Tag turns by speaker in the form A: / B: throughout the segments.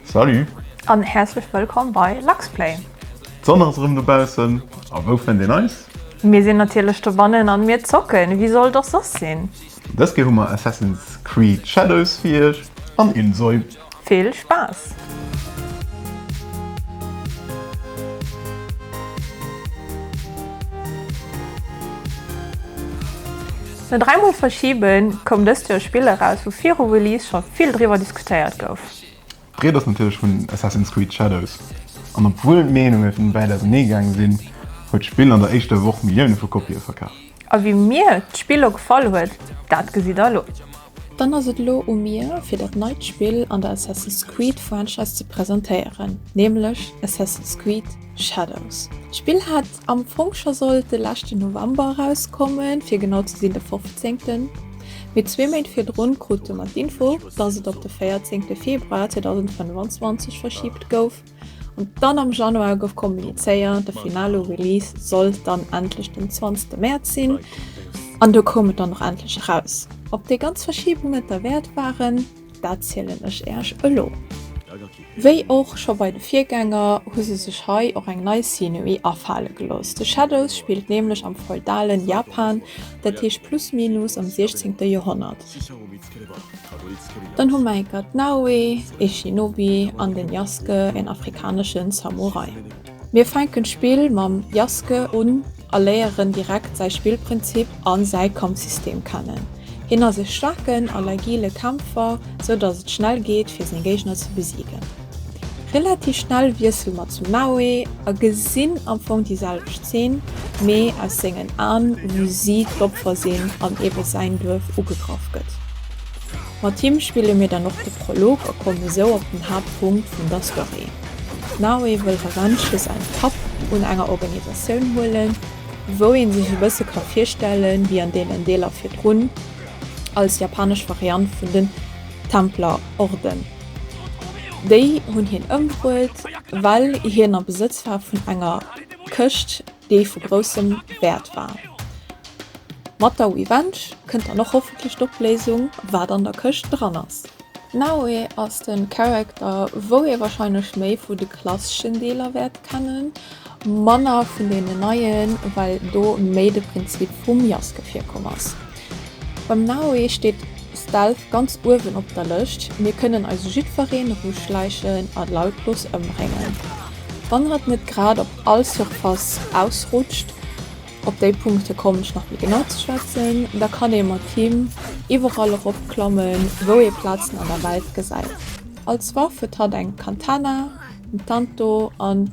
A: Salut! An häerzlech
B: wëllkomm bei Luxplay! D'Sonn ass erëm
A: dobaussen, a wou fënnt een eis? Mir sinn natierlech
B: dobannen an mir zocken, wéi soll et och soss sinn? Dës Kéier hu mer
A: Assassin's Creed Shadows fir iech an Insoy. Vill Spaass!
B: No dräi Mol verschiben, koum dëst Joer e Spill eraus, wou viru Release scho vill driwwer diskutéiert gouf. D'Ried ass natierlech
A: vun Assassin's Creed Shadows. An obwuel d'Meenunge vun de Wäit ausernee gaange sinn, huet d'Spill an der éischter Woch Millioune vu Kopië verkaf. A wéi mir
B: d'Spill elo gefall huet, dat gesitt der elo. Dann ass et
C: elo u mir, fir dat neit Spill an der Assassin's Creed Franchise ze presentéieren, nämlech Assassin's Creed Shadows. D'Spill hat Am Fong scho sollt de leschten November erauskommen, fir genau ze sinn de 15. Mee zwee Méint virdrun krute mer d'Info, dass et op de 14 de Februar 2025 verschibt gouf. An dann am Januar gouf kommunizéiert, de finale Release sollt dann endlech den 20 Mäerz sinn. An do koum et dann och endlech eraus. Ob déi ganz Verschiebungen et derwäert waren? Dat zielen ech Äerch elo. Wéi och scho bei de Virgänger hu se sech hei och eng nei Szenerie afale gelooss. The Shadows spillt nämlech am feudalen Japan, dat heescht plus minus am 16. Joerhonnert. Dann hu mer enker d'Naoe, ee Shinobi, an den Yasuke, een afrikaneschen Samurai. Mir fänken d'Spill mam Jaske un a léieren direkt säi Spillprinzip an säi Kampfsystem kennen. Hien ass e staarken an agile Kämpfer, sou dass et schnell geet fir seng Géigner ze besiegen. Relativ schnell wiessele mer zum Naoe a gesinn am Fong déi selwecht Zeen, mee aus sengen Aen, wou si d'Opfer sinn an ebe säin Duerf ugegraff gëtt. Mat him spille mir dann och de Prolog a kommen esou op den Haaptpunkt vun der Story. Now ee wëll Revenge fir säin Papp un enger Organisatioun huelen, wou ee sech e bësse ka virstellen, wéi an deenen Deeler virdrun, als japanesch Variant vun den Templerorden. Déi hunn hien ëmbruet, well hien a Besëtz war vun enger Këscht, dee vu groussem Wäert war. Mat Daui Ventsch kënnt dann och hoffentlech d'Opléisung, wat an der Këscht dran ass. Naue ass de Character, wou ee warscheinlech méi vu de klasseschen Deeler wäert kennen, manner vun deenen neien, well do méi de Prinzip vum Jaske virkomm ass. Beim Naoe steet Stealth ganz uewen op der Lëscht, mir kënnen eis jiddwereen eruschläichen a lautlos ëmbréngen, wann hatt net grad op all Surface ausrutscht. Op déi Punkte kommen ech nach méi genau ze schwätzen. Da kann ee mat him iwwerall erop klammen, wou ee Plazen an der Welt gesäit. Als Waff huet hatt eng Katana, en Tanto an.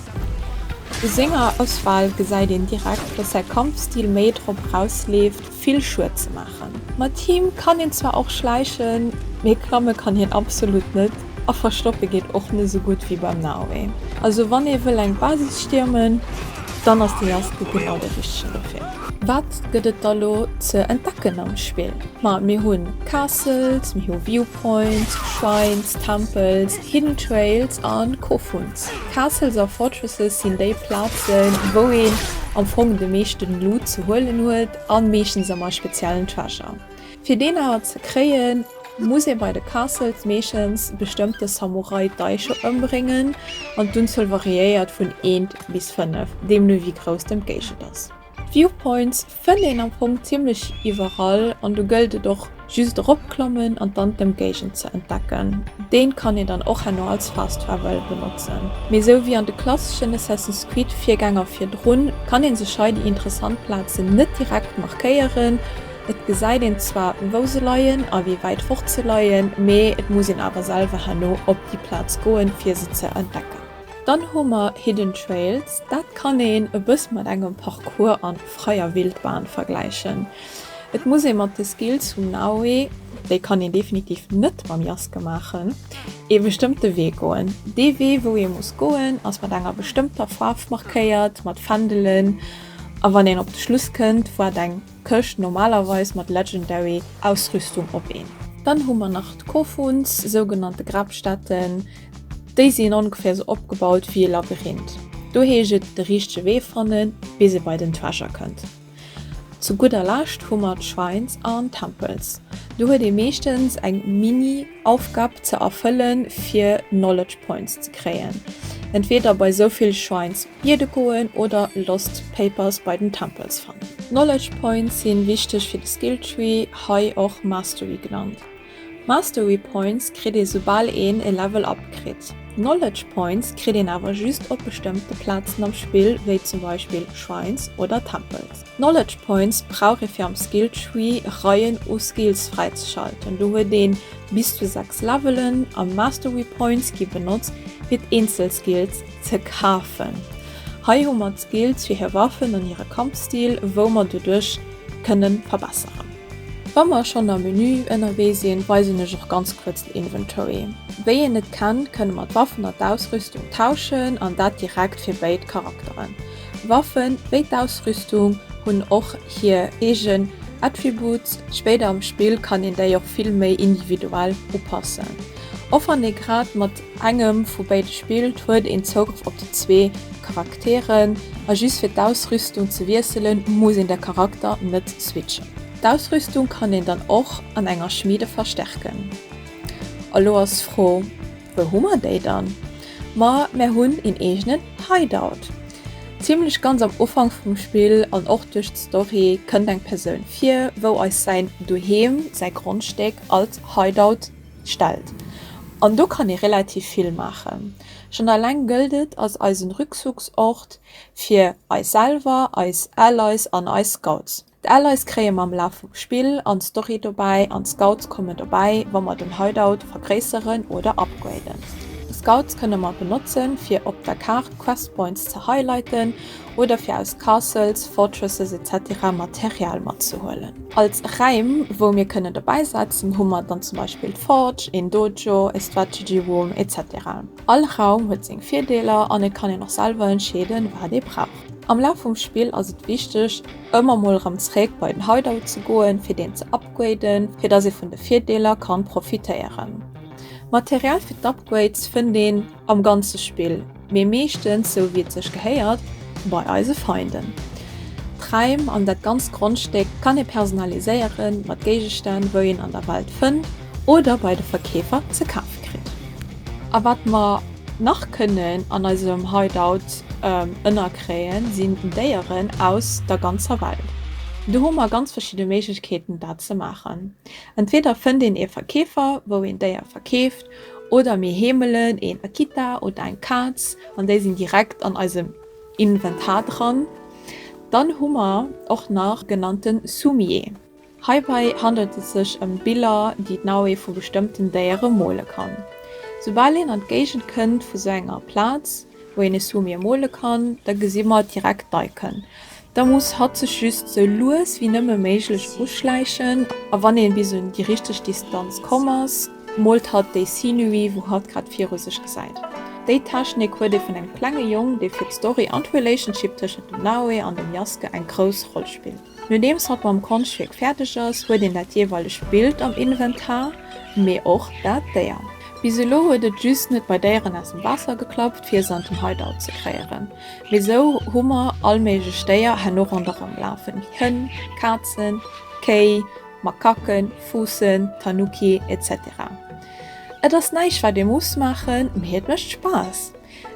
C: U senger Auswal gesäit een direkt, dass säi Kampfstil méi drop erausleeft, vill Schued ze maachen. Mat him kann een zwar och schläichen, mee klamme kann hien absolut net, a verstoppe geet och net esou gutt wéi beim Naoe. Also wann ee wëll eng Basis stiermen, dann ass de Yasuke genau de richtegen dofir. Wat gëtt et da lo ze entdecken am Spill? Ma mir hu Castles, mir hu View Points, Shrines, Tempels, Hidden Trails a Coffons. Castles a Fortresses sinn déi Plazen, wou een am Fong de meeschten Loot ze huelen huet an meeschtens emmer e speziellen Treasure. Fir deen awer ze kréien, muss ee bei de Castles meeschtens bestëmmte Samurai Daisho ëmbréngen an d'Unzuel variéiert vun eent bis fënnef, deemno wéi grouss den Géigend ass. D'Viewpoints Fënnt een am Fong zimmlech iwwerall an do gëllt et och just eropklammen an dann d'Ëmgéigend ze entdecken. Deen kann een dann och herno als Fast Travel benotzen. Mee esou wéi an de klasseschen Assassin's Creed Virgänger virdrun kann een sech hei déi interessant Plazen net direkt markéieren. Et gesäit een zwar wou se leien a wéi wäit fort se leien, mee et muss een awer selwer herno op déi Plaz goen fir se ze entdecken. Dann hu mer Hidden Trails, dat kann een e bësse mat engem Parcours an freier Wildbahn vergläichen. Et muss ee mat de Skills vum Naoe, déi kann een definitiv net mam Jaske maachen, ee bestëmmte Wee goen. Dee Wee wou ee muss goen ass mat enger bestëmmter Faarf markéiert, mat Fändelen, a wann een op de Schluss kënnt waart eng Këscht normalerweis mat Legendary Ausrüstung op een. Dann hu mer nach d'Kofuns, sougenannte Grabstätten. Déi sinn ongeféier esou opgebaut wéi e Labyrinth. Do heescht et de richtege Wee fannen, bis ee bei den Treasure kënnt. Zu gudder Lescht hu mer d'Shrines an Tempels. Do huet ee meeschtens eng Mini-Aufgab ze erfëllen, fir Knowledge Points ze kréien. Entweeder bei esou vill Shrines biede goen oder Lost Papers bei den Tempels fannen. Knowledge Points si wichteg fir de Skill Tree, hei och Mastery genannt. Mastery Points kritt ee soubal een e Level up kritt. Knowledge Points kritt een awer just op bestëmmte Plazen am Spill, wéi zum Beispill Shrines oder Tempels. Knowledge Points brauch ee fir am Skill Tree Reien u Skills fräizeschalten. Do huet ee bis zu 6 Levelen a Mastery Points gi benotzt fir d'eenzel Skills ze kafen. Hei hu mer d'Skills fir hir Waffen an hire Kampfstil wou mer doduerch kënnen verbesseren. Wa mer schonn am Menü ënnerwee sinn, weisen ech och ganz kuerz den Inventory. Wéi een et kennt, kënne mer d'Waffen an d'Ausrüstung tauschen an dat direkt fir béid Charakteren. Waffen, wéi d'Ausrüstung, hunn och hir eegen Attributes, spéider am Spill kann een déi och vill méi individuell upassen. Och wann ee grad mat Engem vu béide spillt, huet een Zougrëff op déi zwee Charakteren a just fir d'Ausrüstung ze wiesselen, muss een de Charakter net switchen. D'Ausrüstung kann een dann och an enger Schmiede verstärken. A lo ass d'Fro, wou hu mer déi dann? Ma mär hunn een eegenen Hideout. Zimlech ganz am Ufank vum Spill an och duerch d'Story kënnt eng Persoun vir, wou eis säin Doheem, säi Grondstéck, als Hideout. stellt an do kann ee relativ vill maachen. Schonn alleng gëllt et als eisen Rückzugsort fir eis selwer, eis Allies an eis Scouts. D'Allies kréie mer am Laf vum Spill an Story dobäi an d'Scouts kommen dobäi wa mer den Hideout vergréisseren oder upgraden. D'Scouts kënne mer benotzen fir op der Kaart Quest Points ze highlighten oder fir aus Castles, Fortresses etc Material matzehuelen. Als Räim wou mir kënnen dobäi setzen hu mer dann zum Beispill d'Forge, een Dojo, e Strategy Room etc. All Raum huet seng Virdeeler an et kann een och selwer entscheeden wat ee brauch. Am Laf vum Spill ass et wichteg ëmmer mol erëm zeréck bei den Hideout ze goen fir deen ze upgraden fir dass ee vun de Virdeeler kann profitéieren. Material fir d'Upgrades fënnt een. Am ganze Spill, mee meeschtens, sou wéi et sech gehéiert, bei eise Feinden. D'Räim an dat ganzt Grondstéck kann ee personaliséiere mat Géigestänn, wou een an der Welt fënnt oder bei de Verkeefer ze kafe kritt. A wat mer nach kënnen an eisem Hideout ënnerkréien, sinn Déieren aus der ganzer Welt. Do hu mer ganz verschidde Méiglechkeeten, dat ze maachen. Entweeder fënnt een ee Verkeefer, wou een d'Déier verkeeft, Oder mir heemelen een Akita oder eng Kaz an déi sinn direkt an eisem Inventar dran. Dann hu mer och nach genannte Sumie. Heibei handelt et sech ëm Biller, déi d'Naue vu bestëmmten Déiere mole kann. Soubal een an d'Géigend kënnt vu sou enger Plaz, wou een e Sumie mole kann, da gesi mer direkt d'Icon. da muss hatt sech just sou lues wéi nëmme méiglech uschläichen a wann ee bis un déi richteg Distanz komm ass, moolt hatt déi Scenery wou hatt grad viru sech gesäit. Déi Technik huet ee vun engem klenge Jong, dee fir d'Story an d'Relationship tëschent dem Naoe an dem Yasuke eng grouss Roll spillt. Nodeems hatt mam Konschtwierk fäerdeg ass, huet een dat jeeweilegt Bild am Inventar, mee och dat Déier. Bis elo huet et just net bei Déieren aus dem Waasser geklappt fir se an den Hideout ze kréieren. Mee sou hu mer all méiglech Déier herno ronderëm lafen, wéi Hënn, Kazen, Kéi, Makaken, Fuussen, Tanuki, etc. Et ass näischt wat ee muss maachen, mee et mécht Spaass.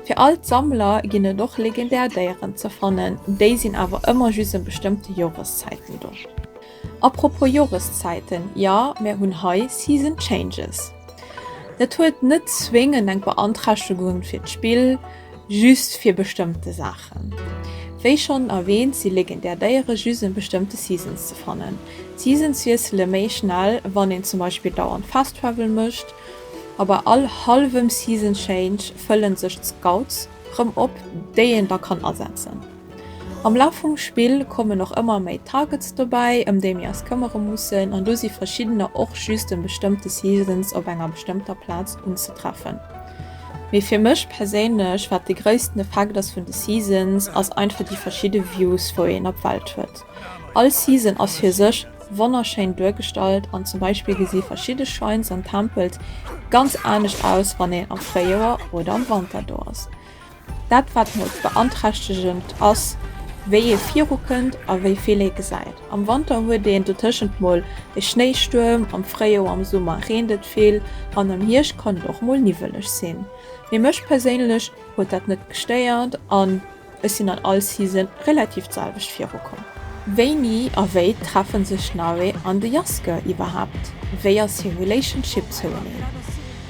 C: Fir all d'Sammler ginn et och legendär Déieren ze fannen, déi sinn awer ëmmer just ëm bestëmmte Joreszäiten do. Apropos Joreszäiten, jo, mär hunn hei Season Changes. Dat huet net zwéngend eng Beanträchtegung fir d'Spill, just fir bestëmmte Saachen. Wéi schonn erwähnt, si legendär Déiere just an bestëmmte Seasons ze fannen. D'Seasons wiessele méi schnell, wann een zum Beispill dauernd Fast Travel mécht. A bei all hallwem Season Change fëllen sech d'Scouts rëm op, déi een da kann asetzen. Am Laf vum Spill kommen och ëmmer méi Targets dobäi, ëm déi mir eis këmmere mussen, an do si verschiddener och just ëm bestëmmte Seasons op enger bestëmmter Plaz unzetreffen. Mee fir mech perséinlech, wat de gréissten Effekt ass vun de Seasons, ass einfach déi verschidde Views wou een op d'Welt huet. All Season ass fir sech wonnerschéin duergestallt, an zum Beispill gesi verschidde Shrines an Tempels ganz anescht aus wann een am Fréijoer oder am Wanter do ass. Dat wat mol beanträchtegend ass wéi ee viru kënnt a wéi vill ee gesäit. Am Wanter huet een dotëschent mol e Schnéistuerm, am Fréijoer, am Summer reent et vill an am Hierscht kann et och mol niwweleg sinn. Mee mech perséinlech huet dat net gestéiert an ech sinn an all Season relativ d'selwecht viru komm. Wéini a wéi treffen sech d'Naue an de Jaske iwwerhaapt? Wéi ass hir Relationship zoueneen?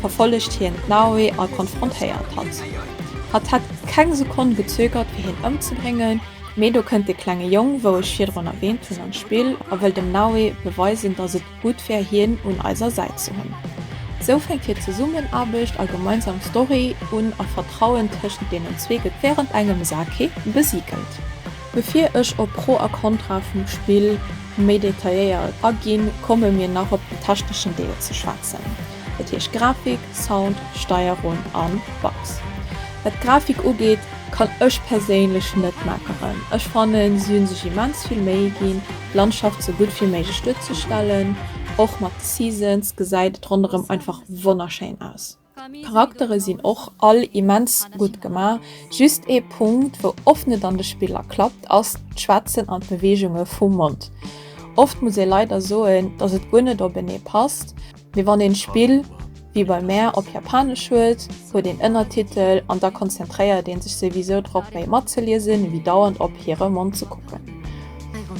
C: verfollegt hien d'Naoi a konfrontéiert hatt. Hatt hätt keng Sekonn gezögert fir hien ëmzebréngen, mee do kënnt dee klenge Jong, wou ech virdrun erwäänt hunn, an d'Spill a wëll dem Naoi beweisen, datt et gutt wär hien un eiser Säit ze hunn. Sou fänkt hir Zesummenaarbecht a gemeinsam Story un a Vertrauen tëschent deenen zwee gëtt wärend engem Sake besigelt. Bevir ech op Pro a Kontra vum Spill méi detailléiert aginn, komme mir nach op den techneschen Deel ze schwätzen, dat heescht Grafik, Sound, Steierung a Bugs. Wat d'Grafik ugeet, kann ech perséinlech net meckeren. Ech fannen si hu sech immens vill Méi ginn d'Landschaft sou gutt wéi méiglech duerzestellen. Och mat Seasons gesäit et ronderëm einfach wonnerschéin aus. D'Charaktere sinn och all immens gutt gemaach, just ee Punkt wou oft net an de Spiller klappt ass d'Schwätzen an d'Beweegunge vum Mond. Oft muss ee leider soen, dass et guer net openee passt, mee wann een d'Spill wéi bei mär op Japanesch huet, huet een Ënnertitel an da konzentréiert ee sech souwisou drop méi matzeliesen ewéi dauernd op hire Mond ze kucken.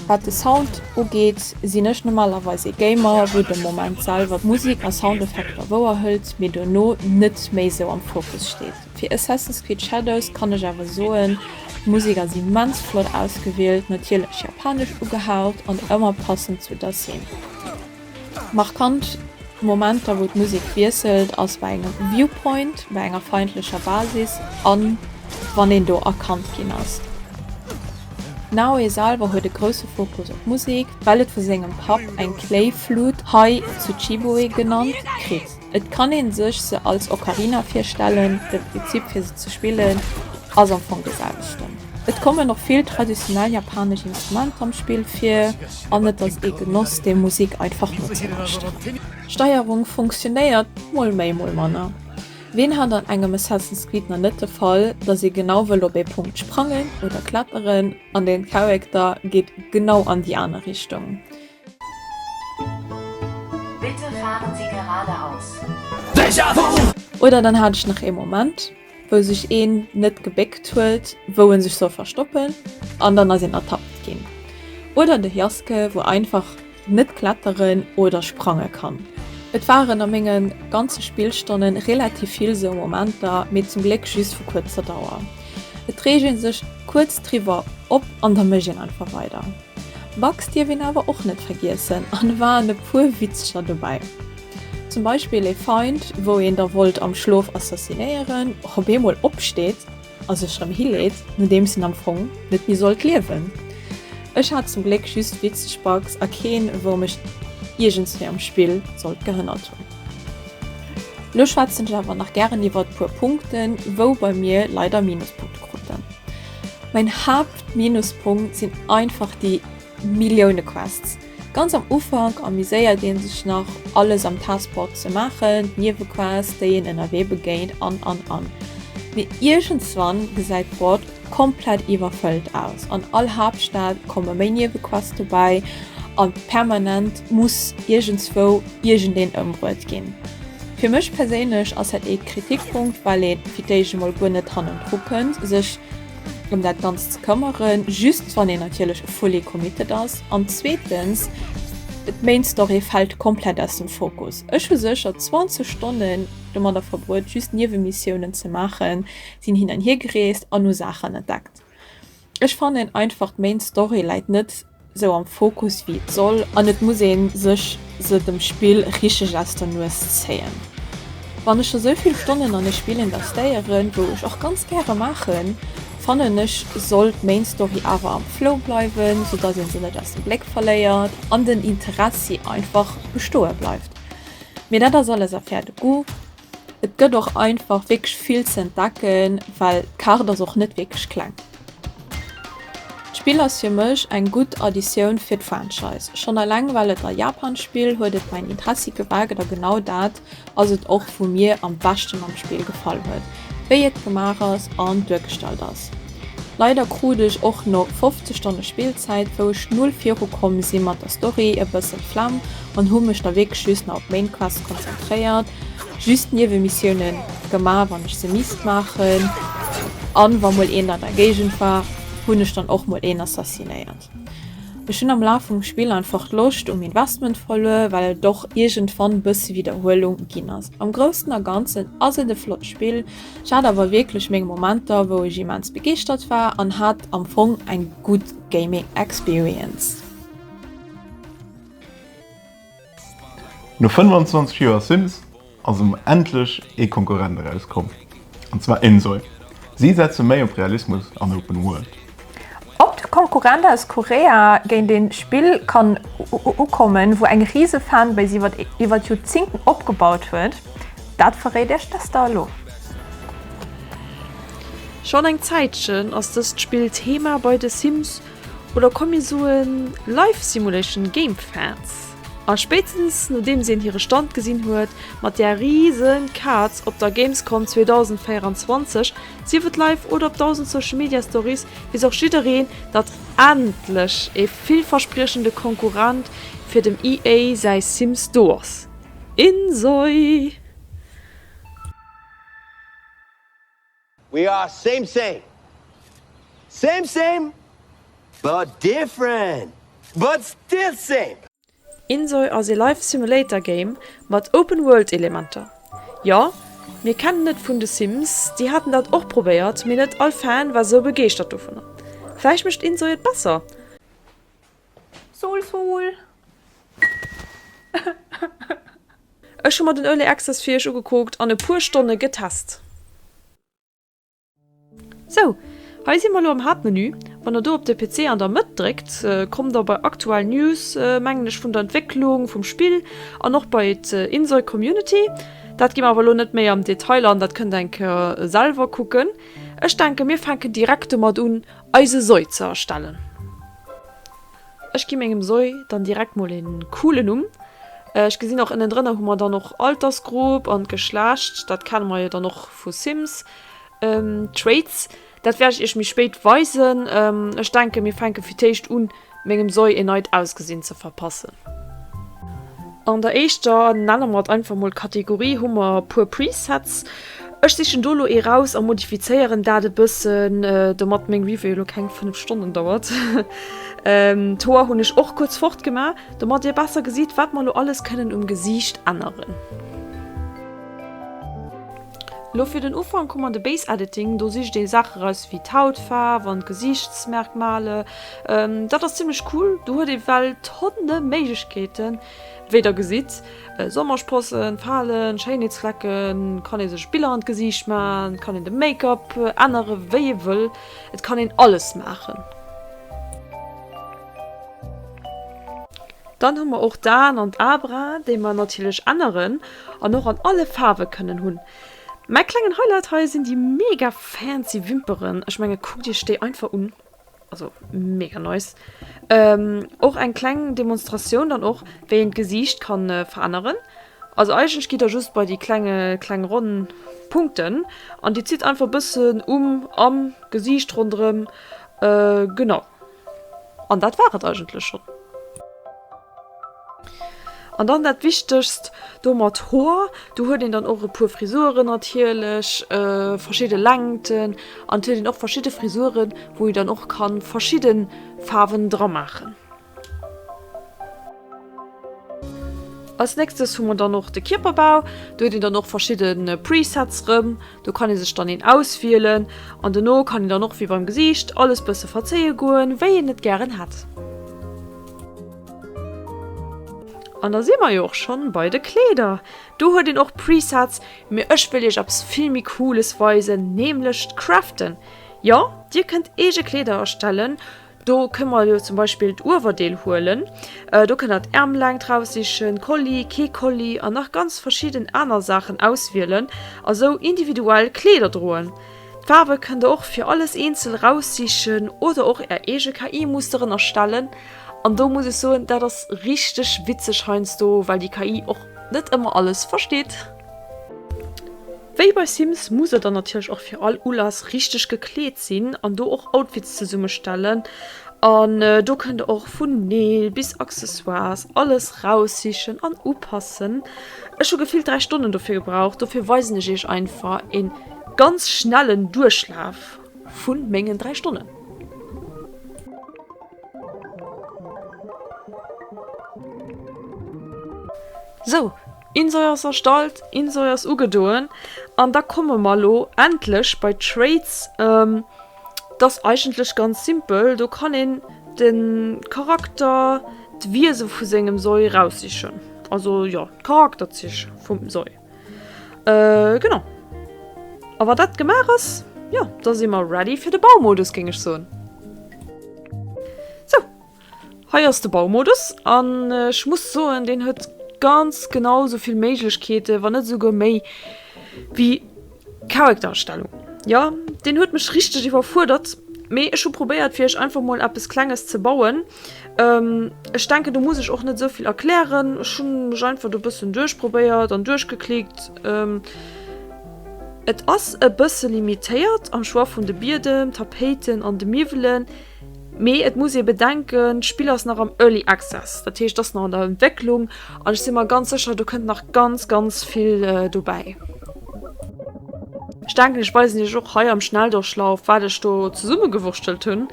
C: Wat de Sound ugeet, sinn ech normalerweis ee Gamer, wou de Moment selwer d'Musik a Soundeffekter wouer hëlt, mee dono net méi esou am Fokus steet. Fir Assassin's Creed Shadows kann ech awer soen, d'Musik ass immens flott ausgewielt, natierlech japanesch ugehaut an ëmmer passend zu der Scene. Markant Momenter wou d'Musek wiesselt ass bei engem Viewpoint, bei enger feindlecher Basis an wann een do erkannt ginn ass. Naoe selwer huet e grousse Fokus op d'Musek, well et vu sengem Papp eng Kléiflute, hei Tsuchiboe genannt, kritt. Et kann ee sech se als Ocarina virstellen, de Prinzip fir se ze spillen ass am Fong de selwechten. Et kommen och vill traditionell japanesch Instrumenter am Spill vir an et ass ee Genoss déi Musik einfach nozelauscheren. D'Steierung funktionéiert mol méi mol manner. Ween hat an engem Assassin's Creed nach net de Fall dass ee genau wëll op ee Punkt sprangen oder kletteren an den Charakter geet genau an déi aner Richtung?
D: Bitte fahren Sie geradeaus.
C: Oder dann hat ech nach ee Moment wou sech een net gebéckt huet wou en sech soll verstoppen an dann ass een ertappt ginn. Oder de Jaske wou einfach net kletteren oder sprange kann. Et waren a menge ganze Spillstonne relativ vill sou Momenter, mee zum Gléck just vu kuerzer Dauer. Et reegt ee sech kuerz driwwer op an da mécht een einfach weider. Bugs dierf een awer och net vergiessen an e waren e puer Witzcher dobäi. Zum Beispill ee Feind wou een da wollt am Schlof assassinéieren och op eemol opsteet a sech rëm hileet nodeems en am Fong net méi sollt liewen. Ech hat zum Gléck just witzeg Bugs a keen wou mech iergendswéi am Spill sollt gehënnert hunn. Lo schwätzen ech awer nach gären iwwert puer Punkten wou bei mir leider Minuspunkte kruten. Mäin Haapt Minuspunkt sinn einfach déi Millioune Quests. Ganz am Ufank amuséiert een sech nach alles am Passport ze maachen, d'Niewequests, déi een ënnerwee begéint an an an. Mee iergendswann gesäit d'Board komplett iwwerfëllt aus. An all Haaptstad komme méi Niewequeste bäi an permanent muss iergendswou iergendeen ëmbruet ginn. Fir mech perséinlech ass dat ee Kritikpunkt, well ee fir d'éischt emol guer net hannendru kënnt sech. em dat Ganzt ze këmmeren, just wann een natierlech fully committed ass an zweetens, d'Main Story fält komplett aus dem Fokus. Ech hu sécher 20 Stonnen domadder verbruet just Niewenmissiounen ze maachen, sinn hin an hier gereest an hu Saachen entdeckt. Ech fannen einfach d'Main Story läit net sou am Fokus wéi et soll an et muss een sech se dem Spill richteg aus der Nues zéien. Wann ech scho sou vill Stonnen an e Spill investéieren, wou ech och ganz gäre maachen, fannen ech sollt d'Main Story awer am Flow bleiwen, sou dass een se net aus dem Bléck verléiert an den Interessi einfach bestoe bleift. Mee dat ass alles Affaire de goût. Et gëtt och einfach wierklech vill ze entdecken, well d'Kaart ass och net wierklech kleng. D'Spill ass fir mech eng gutt Additioun fir d'Franchise. Schonn eleng well et a Japan spill, huet et mäin Interessi geweckt a genau dat ass et och wou mir am beschten am Spill gefall huet, wéi et gemaach ass an duergestallt ass. Leider krut ech och no 50 Stonne Spillzäit, wou ech null viru komm si mat der Story, e bësse Flemm an hu mech da wierklech just nach op d'Main Quest konzentréiert, just d'Niewemissioune gemaach wann ech se misst maachen, an wa mol een an der Géigend war hunn ech dann och mol een assassinéiert. Ech hunn am Laf vum Spill einfach d'Loscht um Investment verluer, well et och iergendwann bësse Widderhuelung ginn ass. Am Groussen a Ganzen ass et e flott Spill, ech hat awer wierklech meng Momenter wou ech immens begeeschtert war an hat am Fong eng gutt Gaming Experience.
A: No 25 Joer Sims ass em endlech ee Konkurrent erauskomm, an zwar Insoy. Si setze méi op Realismus an Open World. Ob de
B: Konkurrent aus Korea géint ee Spill kann ukommen, wou eng rise Fanbase iwwert Joerzingten opgebaut huet, dat verréit iech d'Esther elo.
E: Schonn eng Zäitchen ass dëst Spill Thema bei de Sims. Oder komm mir soen Life Simulation Game Fans. A spéitstens nodeems een hire Stand gesinn huet mat där riesen Kaz op der Gamescom 2024, sief et live oder op 1000 Social Media Stories, weess och jiddereen datt endlech ee villverspriechende Konkurrent fir dem EA säi Sims do ass. Insoii!
F: We are same same, same same but different but still same. Insoy
E: ass ee Life Simulator Game mat Open World Elementer. Jo, mir kennen et vun de Sims, déi haten dat och probéiert, mee net all Fan war sou begeeschtert dovunner. Vläicht mécht Insoy et besser?
B: Sul sul!
E: Ech hu mer den Early Access fir iech ugekuckt an e puer Stonne getest. Sou, hei si mer lo am Haaptmenü. Wann der do op de PC an der Mëtt dréckt, kommt der bei Aktuell News, mengen ech, vun der Entwécklung vum Spill an och bei Insert Community. Dat gi mer awer lo net méi am Detail an, dat kënnt der eng Kéier selwer kucken. Ech denken, mir fänken direkt domat un eise Soi ze erstellen. Ech gi mengem Soi dann direkt mol een coolen Numm. Ech gesinn och ënnen drënner hu mer dann och Altersgrupp an Geschlecht, dat kenne mer jo dann och vu Sims. Traits, dat wäert ech iech méi spéit weisen. Ech denken mir fänken fir d'éischt un Mengem Soi een neit Ausgesinn ze verpassen. An der éischter, nenne mer et einfach mol, Kategorie hu mer e puer Presets. Ech sichen do elo ee raus a modifizéieren dat e bëssen, domat meng Review elo keng 5 Stonnen dauert. D'Hoer hunn ech och kuerz fort gemaach, domat dir besser gesitt, wat mer elo alles kënnen um Gesiicht änneren. Lo fir den Ufank hu mer de Base Editing, do sicht ee Saache raus wéi d'Hautfaarf an d'Gesiichtsmerkmale. Dat ass zimmlech cool, do huet ee well Tonne Méiglechkeeten. Wéi der gesitt, Sommersprossen, Falen, Schéinheetsflecken, kann ee sech Biller an d'Gesiicht maachen, et kann een de Make-up ännere wéi ee wëll, et kann een alles maachen. Dann hu mer och d'Aen an d'Abra, déi mer natierlech änneren an och an alle Faarwe kënnen hunn. Mäi klengen Highlight hei sinn déi mega fancy Wimperen. Ech menge kuckt iech déi einfach un, also mega nice. Och eng kleng Demonstratioun dann och wéi een d'Gesiicht ka veränneren. Also eigentlech gitt der just bei déi klenge kleng ronn Punkten an dir zitt einfach e bëssen um, am Gesiicht ronderëm, genau. An dat war et eigentlech schonn. An dann dat Wichtegst, do mat Hoer, do huet een dann och e puer Frisuren natierlech, verschidde Längten an et huet een och verschidde Frisuren, wou ee dann och ka verschidde Faarwen dra maachen. Als nächstes hu mer dann och de Kierperbau. Do huet een dann och verschidde Presets rëm. Do kann ee sech dann een auswielen an dono kann een dann och wéi beim Gesiicht alles bësse verzéie goen, wéi een et gären hätt. An da si mer jo och schonn bei de Kleeder. Do huet een och Presets, mee ech wëll iech eppes vill méi Cooles weisen, nämlech d'Craften. Jo, dir kënnt eege Kleeder erstellen, Do kënne mer elo zum Beispill d'Uewerdeel huelen. Do kënnt der d'Ärmlängt raussichen, Kolli, kee Kolli an nach ganz verschidden aner Saachen auswielen a sou individuell Kleeder droen. D'Faarwe kënnt der och fir alles eenzel raussichen oder och är eege KI-Musteren erstellen. An do muss ech soen, dat ass richteg witzeg heiansdo, well déi KI och net ëmmer alles versteet. Wéi bei Sims muss der dann natierlech och fir all Ulass richteg gekleet sinn an do och Outfits zesummestellen an do kënnt der och vun Neel bis Accessoires alles raussichen an upassen. Ech hu gefillt 3 Stonnen dofir gebraucht, dofir weisen ech iech einfach een ganz schnellen Duerchlaf vun mengen 3 Stonnen. Sou. Insoy ass erstallt, Insoy ass ugedoen an da komme mer elo endlech bei d'Traits. Et ass eigentlech ganz simpel, do kann een de Charakter, d'Wiese vu sengem Soy raussichen, also jo d'Charakterzich vum Soy genau. A wa dat gemaach ass, jo da si mer ready fir de Baumodus géing ech soen. Sou, Hei ass de Baumodus an ech muss soen deen huet ganz genau sou vill Méiglechkeete wann net esouguer méi wéi Charactererstellung. Jo deen huet mech richteg iwwerfuerdert, mee ech hu probéiert fir iech einfach mol eppes klenges ze bauen. Ech denken do muss ech och net esou vill erklären, ech hu mech einfach do e bëssen duerchprobéiert an duerchgeklickt. Et ass e bësse limitéiert am Choix vun de Biedem, Tapéiten an de Miwwelen. Mee et muss ee bedenken, d'Spill ass nach am Early Access, dat heescht ass nach an der Entwécklung an ech si mer ganz sécher, do kënnt nach ganz ganz vill dobäi. Ech denken, ech weisen Iech och hei am Schnelldurchlauf, wat ech do zesummegewurschtelt hunn.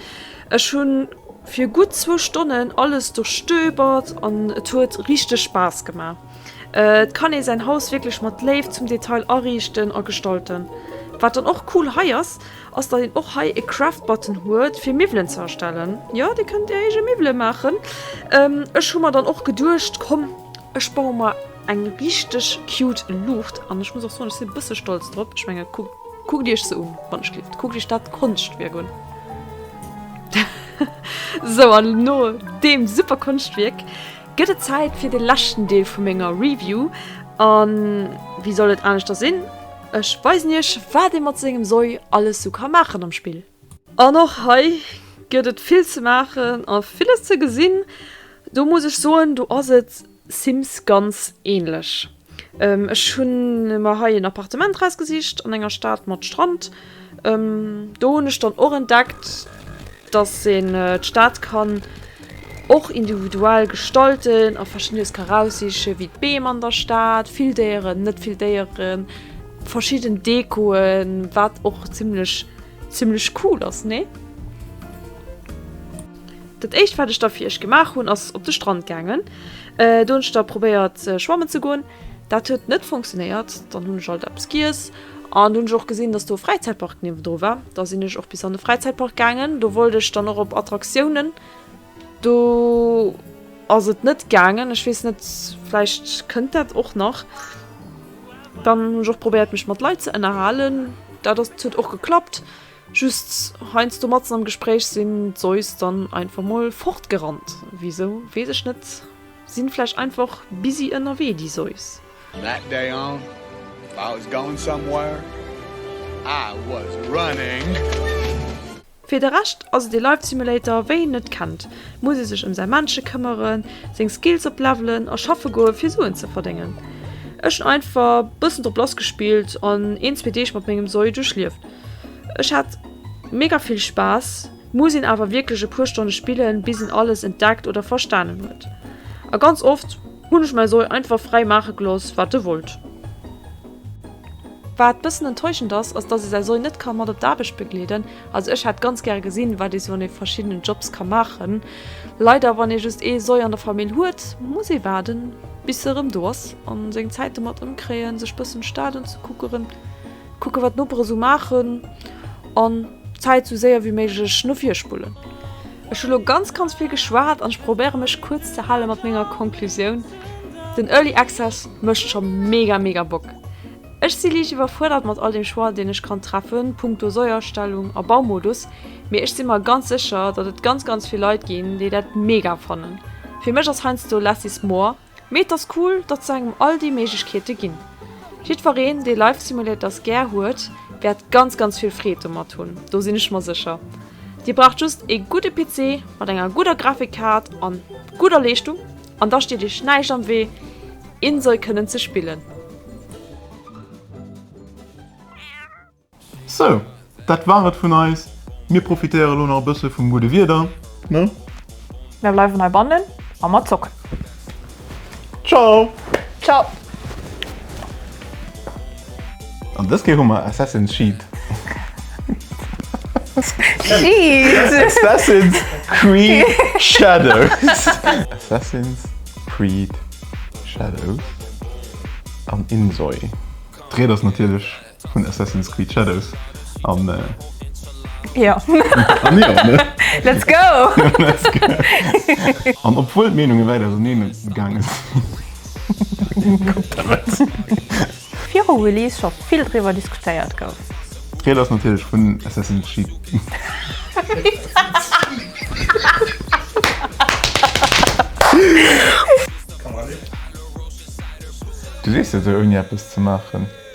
E: Ech hu fir gutt zwou Stonnen alles duerchstöbert an et huet richteg Spaass gemaach. Et kann ee säin Haus wierklech mat Léift zum Detail ariichten a gestalten. Wat dann och cool hei ass, Ass dat een och hei e Craft Button huet fir Miwwelen ze erstellen. Jo dir kënnt är eege Miwwelen maachen. Ech hu mer dann och geduecht komm ech baue mer eng richteg cute Luucht an ech muss och soen ech sinn e bësse stolz drop. Ech menge kuckt iech se un wann ech lift, kuckt iech dat Konschtwierk un. Sou an no deem super Konschtwierk gëtt et Zäit fir de leschten Deel vu menger Review an wéi soll et aneschter sinn, ech weisen iech wat ee mat sengem Soi alles sou ka maachen am Spill. An och hei gëtt et vill ze maachen a villes ze gesinn, do muss ech soen do ass et Sims ganz ähnlech. Ech hun mer hei en Appartement raus gesicht an enger Stadt mat Strand. Do hun ech dann och entdeckt dass een d'Stadt kann och individuell gestalten a verschiddenes ka raussichen wéi d'Beem an der Stadt, vill Déieren, net vill Déieren, verschidden Dekoen, wat och zimlech zimlech cool ass nee? Dat éischt wat ech da fir iech gemaach hunn ass op de Strand gaangen. Do hunn ech da probéiert schwammen ze goen. Dat huet net fonctionéiert. Dann hunn ech alt eppes giess an hunn ech och gesinn, datt do e Fräizäitpark niewendru war. Da sinn ech och bis an de Fräizäitpark gaangen. Do wollt ech dann och op Attraktiounen. Do ass et net gaangen. Ech weess net, vläicht kënnt dat och nach. Dann hunn ech och probéiert mech mat Leit ze ënnerhalen. Dat ass, huet och geklappt. Just heinsdo matzen am Gespréich sin d'Seus dann einfach mol fortgerannt. Wisou wees ech net, sin vläicht einfach busy ënnerwee déi Seus. From that day on,
G: if I was going somewhere, I was running!
E: Fir de Rescht ass et ee Life Simulator wéi een net kennt. Muss ee sech ëm säi Männche këmmeren, seng Skills op levelen a schaffe goe fir Suen ze verdéngen. Ech hunn einfach bëssen drop lass gespillt an een zwee Deeg mat mengem Soi duerchlieft. Ech hat mega vill Spaass, muss een awer wierklech e puer Stonne spillen, bis een alles entdeckt oder verstanen huet. A ganz oft hunn ech mäi Soi einfach fräi maache gelooss, wat e wollt. Wat bëssen enttäuschend ass, ass dass ee säi Soi net ka mat op d'Aarbecht begleeden. Also ech hätt ganz gäre gesinn, wat ee sou an de verschiddenen Jobs ka maachen. Leider, wann ee just ee Soi an der Famill huet, muss ee waarden, bis e rëm do ass a seng Zäit domat ëmkréien, sech bëssen Stad unzekuckeren. Kucken wat d'Noperen sou maachen an d'Zäit sou séier wéi méiglech no vir spullen. Ech hu lo ganz ganz vill geschwat an ech probéiere mech kuerz ze hale mat menger Konklusioun, Den Early Access mécht scho mega mega Bock. Ech si liicht iwwerfuerdert mat all dem Choix deen ech kann treffe punkto Säuerstellung a Baumodus, mee ech si mer ganz sécher datt et ganz ganz vill Leit ginn déi dat mega fannen. Fir mech ass heiansdo less is more. Mee et ass cool, datt se engem all déi Méiglechkeete ginn. Jiddwereen, dee Life Simulators gär huet, wäert ganz, ganz vill Freed domat hunn, do sinn ech mer sécher. Dir braucht just ee gudde PC mat enger gudder Grafikkaart a gudder Leeschtung, an da steet iech näischt am Wee, Insoy kënnen ze spillen.
A: Sou, dat war et vun eis. Mir profitéiere lo nach e bësse vum gudde Wieder, ne? Mir bleiwen
B: hei bannen a mer zocken.
A: Ciao! Ciao! An dës Kéier hu mer Assassin's Sheet. Sheet! Assassin's Creed Shadows. Assassin's Creed Shadows an Insoy. D'Ried ass natierlech Vun Assassin's Creed Shadows an
B: Jo. An jo, ne?
A: Let's go! Let's go! An obwuel d'Meenunge wäit auserneen gaange sinn. Kuckt
B: ewech! Viru Release scho vill driwwer diskutéiert gouf. D'Ried ass natierlech
A: vun Assassin's Creed. Du sees jo esou ouni eppes ze maachen.